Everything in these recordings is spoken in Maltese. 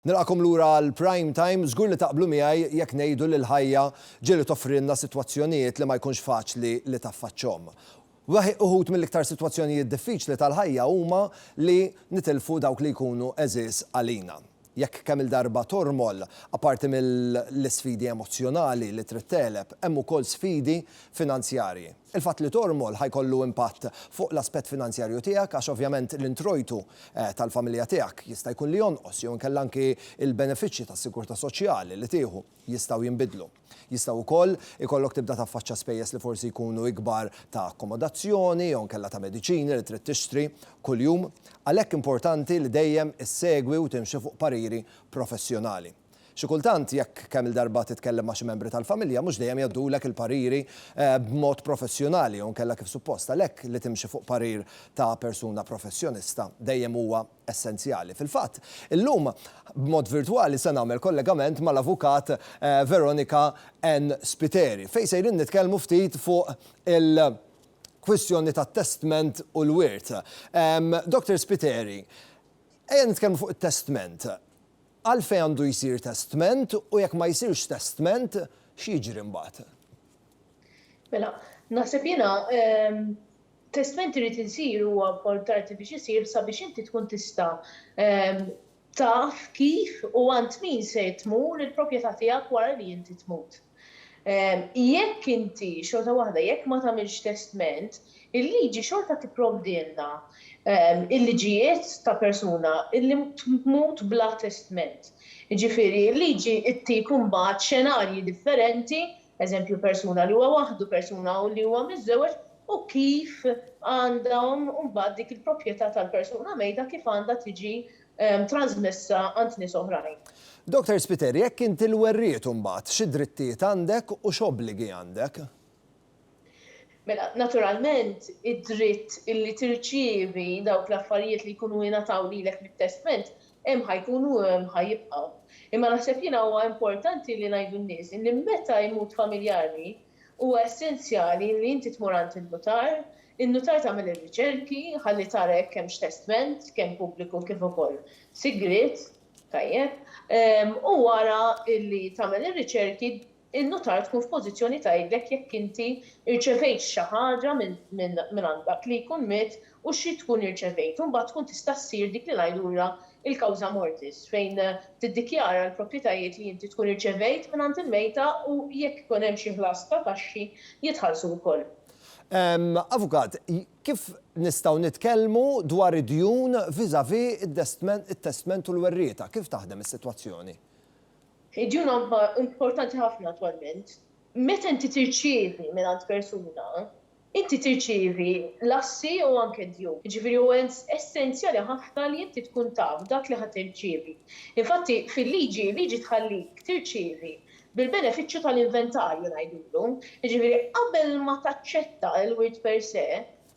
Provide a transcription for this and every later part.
Nilqakom lura għal Prime Time, żgur li taqblu miegħi jekk ngħidu li l-ħajja ġieli toffrilna sitwazzjonijiet li ma jkunx faċli li taffaċċhom. Uħud mill-iktar sitwazzjonijiet diffiċli tal-ħajja huma li nitilfu dawk li jkunu għeżież għalina. Jekk kemm-il darba tormol, apparti mill-isfidi emozzjonali li trid tegħleb, hemm ukoll sfidi finanzjarji. Il-fatt li tormol ħa jkollu impatt fuq l-aspett finanzjarju tiegħek għax ovvjament l-introjtu tal-familja tiegħek jista' jkun li jonqos jew inkella anki l-benefiċċji tas-sigurtà soċjali li tieħu jistgħu jinbidlu. Jista' wkoll ikollok tibda taffaċċa spejjeż li forsi jkunu ikbar ta' akkomodazzjoni jew inkella ta' mediċini li trid tixtri kuljum. Għalhekk importanti li dejjem issegwi u timxi fuq pariri professjonali. Xi kultant, jekk kemm-il darba titkellem ma' xi membri tal-familja, mhux dejjem jgħoddulek il-pariri b'mod professjonali jew inkella kif suppost. Għalhekk li timxi fuq parir ta' persuna professjonista dejjem huwa essenzjali. Fil-fatt, illum, b'mod virtwali se nagħmel kollegament mal-Avukat Veronica Ann Spiteri, fejn sejrin nitkellmu ftit fuq il kwistjoni tat-testment u l-wirt. Doctor Spiteri, ejja nitkellmu fuq it-testment. Għalfejn għandu jsir testment u jekk ma jsirx testment, x'jiġri mbagħad? Mela, naħseb jiena, Testment irid isir huwa importanti biex isir sabiex inti tkun tista' taf kif u għand min se tmur il-propjetà tiegħek wara li inti tmut. Jekk inti, xorta waħda, jekk ma tagħmilx testment, il-liġi xorta tipprovdilna l-liġijiet ta' persuna li tmut bla testment. Jiġifieri l-liġi ttik imbagħad xenarji differenti eżempju persuna li huwa waħdu, persuna li huwa miżżewweġ, u kif għandhom imbagħad dik il-proprjetà tal-persuna mejta kif għandha tiġi trażmessa għand nies oħrajn. Doctor Spiteri, jekk inti l-werriet imbagħad, xi drittijiet għandek u x'obbligi għandek? Mela, naturalment, id-dritt illi tirċievi dawk l-affarijiet li jkunu ingħataw lilek mit-testment hemm ħa jkunu u hemm ħa jibqgħu. Imma naħseb jiena huwa importanti li ngħidu n-nies illi meta jmut familjari huwa essenzjali illi inti tmur għand in-nutar, in-nutar tagħmel ir-riċerki ħalli tara jekk hemmx testment, kemm pubbliku kif ukoll sigriet, tajjeb, u wara illi tagħmel ir-riċerki in-nutar tkun f'pożizzjoni tgħidlek jekk inti rċevejtx xi ħaġa mingħand dak li jkun miet u xi tkun irċevejt u mbagħad tkun tista' ssir dik li ngħidulha l-causa mortis fejn tiddikjara l-proprjetajiet li inti tkun irċevejt mingħand il-mejta u jekk ikun hemm xi ħlas ta' taxxi jitħallsu wkoll. Avukat, kif nistgħu nitkellmu dwar id-djun vis-à-vis it-testment u l-werrieta? Kif taħdem is-sitwazzjoni? Id-djun huwa importanti ħafna attwalment. Meta inti tirċievi mingħand persuna, inti tirċievi l-assi u anke d-djun. Jiġifieri huwa essenzjali ħafna li inti tkun taf dak li ħa tirċievi. Infatti, fil-liġi, il-liġi tħallik tirċievi bil-benefiċċju tal-inventarju ngħidulu. Jiġifieri qabel ma taċċetta l-wirt per se,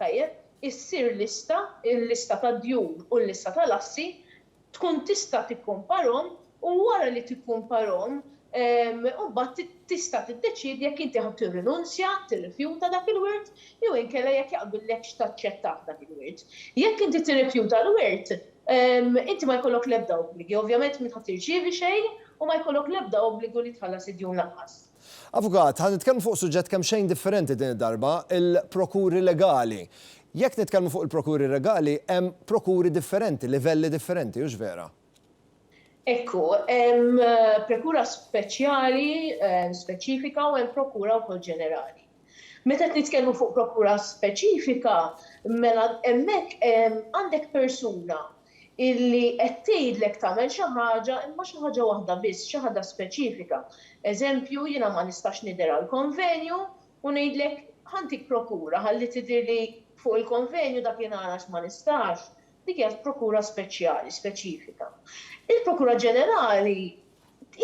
tajjeb, issir lista, il-lista tad-djun u l-lista tal-assi, tkun tista' tikkumparhom u wara li tikkumparhom imbagħad tista' tiddeċiedi jekk inti ħa tirrinunzja, tirrifjuta dak il-wirt jew inkella jekk jaqbillekx taċċettah dak il-wirt. Jekk inti tirrifjuta l-wirt, inti ma jkollok l-ebda obbligi, ovvjament m'int ħa tirċievi xejn u ma jkollok l-ebda obbligu li tħallas id-djun lanqas. Avukat, ħa nitkellmu fuq suġġett kemxejn differenti din id-darba, il-prokuri legali. Jekk nitkellmu fuq il-prokuri regali, hemm prokuri differenti, livelli differenti, hux vera? Hekk hu. Hemm prekura speċjali, speċifika u hemm prokura wkoll ġenerali. Meta qed nitkellmu fuq prokura speċifika, mela hemmhekk għandek persuna illi qed tgħidlek tagħmel xi ħaġa imma xi ħaġa waħda biss, xi ħaġa speċifika. Eżempju, jiena ma nistax nidher għall-konvenju u ngħidlek ħa ntik prokura ħalli tidhirli fuq il-konvenju dakinhar għax ma nistax. Dik hija prokura speċjali, speċifika. Il-prokura ġenerali,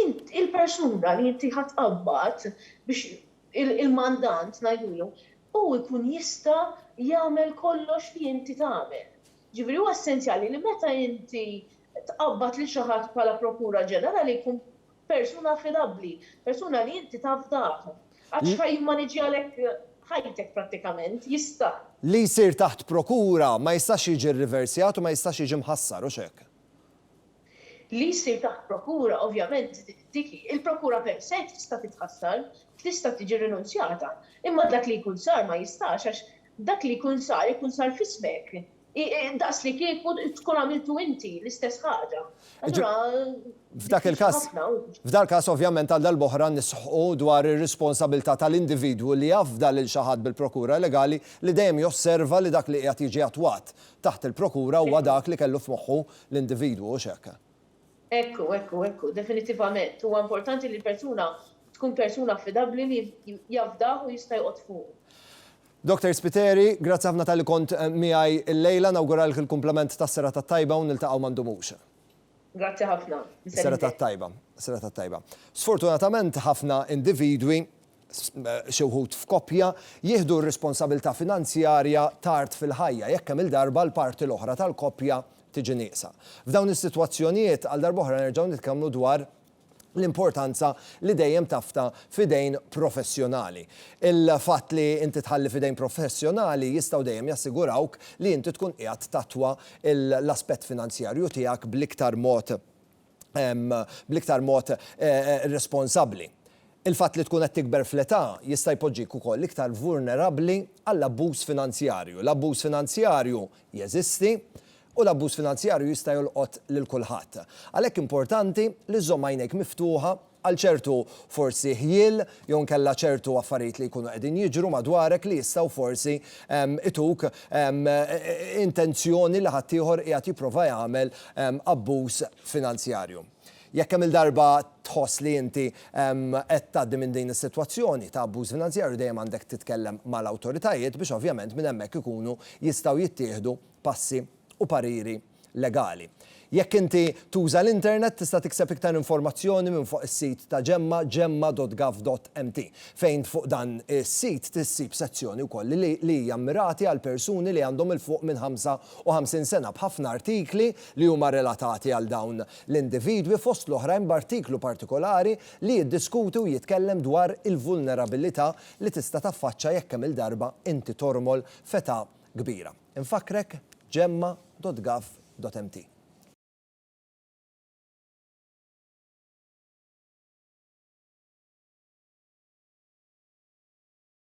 int, il-persuna li inti ħa tqabbad biex, il-mandant ngħidulu, hu jkun jista' jagħmel kollox li inti tagħmel. Jiġifieri huwa essenzjali li meta inti tqabbad lil xi ħadd bħala Prokura Ġenerali jkun persuna affidabbli, persuna li inti tafdah. Għax ħa jimmaniġjalek ħajtek prattikament, jista'. Li jsir taħt Prokura ma jistax jiġi rriversjat u ma jistax jiġi mħassar, hux hekk? Li jsir taħt Prokura, ovvjament dik hi, il-Prokura per se tista' titħassar, tista' tiġi rinunzjata, imma dak li jkun sar ma jistax għax Dak li jkun sar, ikun sar f'ismek. Daqslikieku tkun għamiltu inti l-istess ħaġa. Allura diffiċli ħafna hu. F'dal-każ ovvjament għal darb'oħra nisħqu dwar ir-responsabilità tal-individwu li jafda lil xi ħadd bil-prokura legali li dejjem josserva li dak li qiegħed jiġi attwat taħt il-prokura huwa dak li kellu f'moħħu l-individwu, hux hekk? Ekku, ekku, ekku, definittivament, huwa importanti li l-persuna tkun persuna affidabbli li jafdah u jista' joqgħod fuqu. Doctor Spiteri, grazzi ħafna talli kont miegħi illejla, nawguralk il-kumplament tas-serata t-tajba u niltaqgħu ma ndumux. Grazzi ħafna. Is-serata t-tajba, is-serata t-tajba. Sfortunatament ħafna individwi, xi wħud f'koppja, jieħdu r-responsabilità finanzjarja tard fil-ħajja, jekk kemm-il darba l-parti l-oħra tal-koppja tiġi nieqsa. F'dawn is-sitwazzjonijiet, għal darb'oħra nerġgħu nitkellmu dwar l-importanza li dejjem tafda f'idejn professjonali. Il-fatt li inti tħalli f'idejn professjonali jistgħu dejjem jassigurawk li inti tkun qiegħed tattwa l-aspett finanzjarju tiegħek bl-iktar mod bl-iktar mod responsabbli. Il-fatt li tkun qed tikber fl-età jista' jpoġġik ukoll iktar vulnerabbli għall-abbuż finanzjarju. L-abbuż finanzjarju jeżisti u l-abbuż finanzjarju jista' jolqot lil kulħadd. Għalhekk importanti li żżomm għajnejk miftuħa għal ċertu forsi ħjiel jew inkella ċertu affarijiet li jkunu qegħdin jiġru madwarek li jistgħu forsi ituk intenzjoni li ħaddieħor qiegħed jipprova jagħmel abbuż finanzjarju. Jekk kemm-il darba tħoss li inti qed tgħaddi minn din is-sitwazzjoni ta' abbuż finanzjarju dejjem għandek titkellem mal-awtoritajiet biex ovvjament minn hemmhekk ikunu jistgħu jittieħdu passi u pariri legali. Jekk inti tuża l-internet tista' tikseb iktar informazzjoni minn fuq is-sit ta' Gemma, gemma.gov.mt, fejn fuq dan is-sit issib sezzjoni wkoll li hija mmirati għal persuni li għandhom 'il fuq minn 55 sena b'ħafna artikli li huma relatati għal dawn l-individwi, fost l-oħrajn b'artiklu partikolari li jiddiskuti u jitkellem dwar il-vulnerabilità li tista' taffaċċa jekk kemm-il darba inti tormol f'età kbira. Infakkrek, gemma.gov.mt.